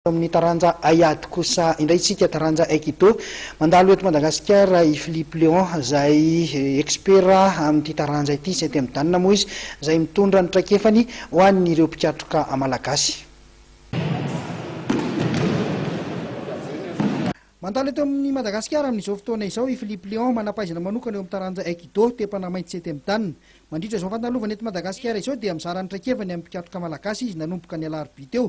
Eo amin'ny taranja haiady kosa indray isika, taranja aikido. Mandalo eto Madagasikara i Philippe Léon izay ekspera amin'ity taranja ity, septième dan moa izy, izay mitondra ny traikefany ho an'ireo mpikatroka malagasy. Mandalo eto amin'i Madagasikara amin'izao fotoana izao i Philippe Léon, manam-pahaizana manokana eo amin'ny taranja aikido, tepana mainty septième dan. Mandritra izao fandalovana eto Madagasikara izao dia mizara ny traikefany amin'ny mpikatroka malagasy izy nanomboka ny alarobia teo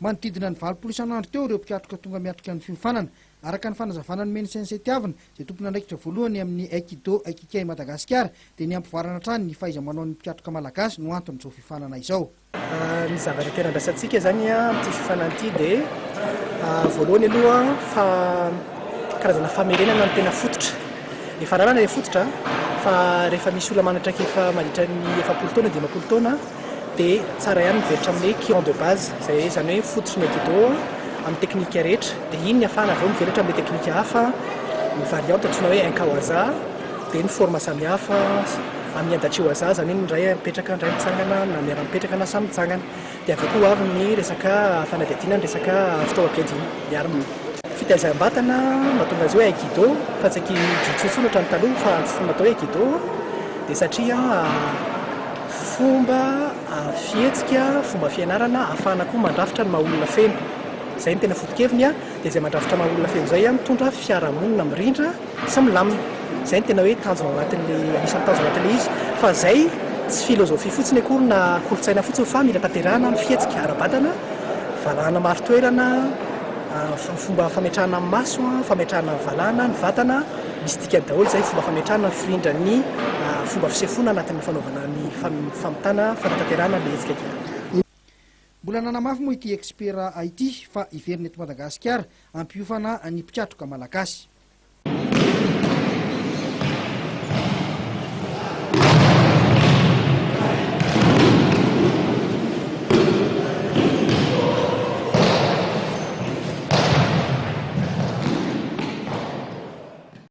Manodidina ny valopolo isan'andro teo ireo mpikatroka tonga miatrika ny fiofanana. Araka ny fanazavana nomen'ny Sensei Tiavina, izay tompon'andraikitra voalohany amin'ny Aikido Aikikai Madagasikara, dia ny hampivoarana hatrany ny fahaiza-manaon'ny mpikatroka malagasy no anton'izao fiofanana izao. Ny zavatra tena andrasantsika izany amin'ity fiofanana ity dia voalohany aloha fa karazana famerenana ny tena fototra. Efa rarana ilay fototra fa rehefa misy olona manatraika efa mandritra ny efapolo taona, dimampolo taona, dia tsara ihany mivelatra amin'ny hoe client de base, izay hoe izany hoe fototry ny etido amin'ny teknika rehetra, dia iny ny afahana avy eo mivelatra amin'ny teknika hafa, ny variante antsoina hoe inkawaza, dia ny forme samihafa amin'ny adachiwaza, izany hoe ny iray mipetraka, ny iray mitsangana, na miara-mipetraka na samy mitsangana, dia avy eo koa ho avy ny resaka fanadihadiana ny resaka fitaovam-piadiana, ny armes. Fitaizam-batana no mahatonga azy hoe aikido fa tsy aikido intsony intsony ohatran'ny taloha, fa antsoina atao hoe aikido dia satria. Fomba fihetsika, fomba fianarana ahafahana koa mandrafitra ny maha olona feno. Izay no tena foto-keviny dia izay mandrafitra maha olona feno izay mitondra fiarahamonina mirindra sy milamina. Izay no tena hoe tanjona ao anatin'ilay, anisan'ny tanjona ao anatin'ilay izy. Fa izay tsy filozofia fotsiny akory na kolontsaina fotsiny fa mila tanterahana ny fihetsika ara-batana, valahana marin-toerana, fomba fametrahana maso, fametrahana valahana ny vatana. Misy dikany daholo izay fomba fametrahana mifirindra ny fomba fisefoana anatin'ny fanaovana ny famitana fanatanterahana ilay hetsika kely. Mbola nanamafy moa ity ekspera ity fa hiverina eto Madagasikara hampiofana ny mpikatroka malagasy.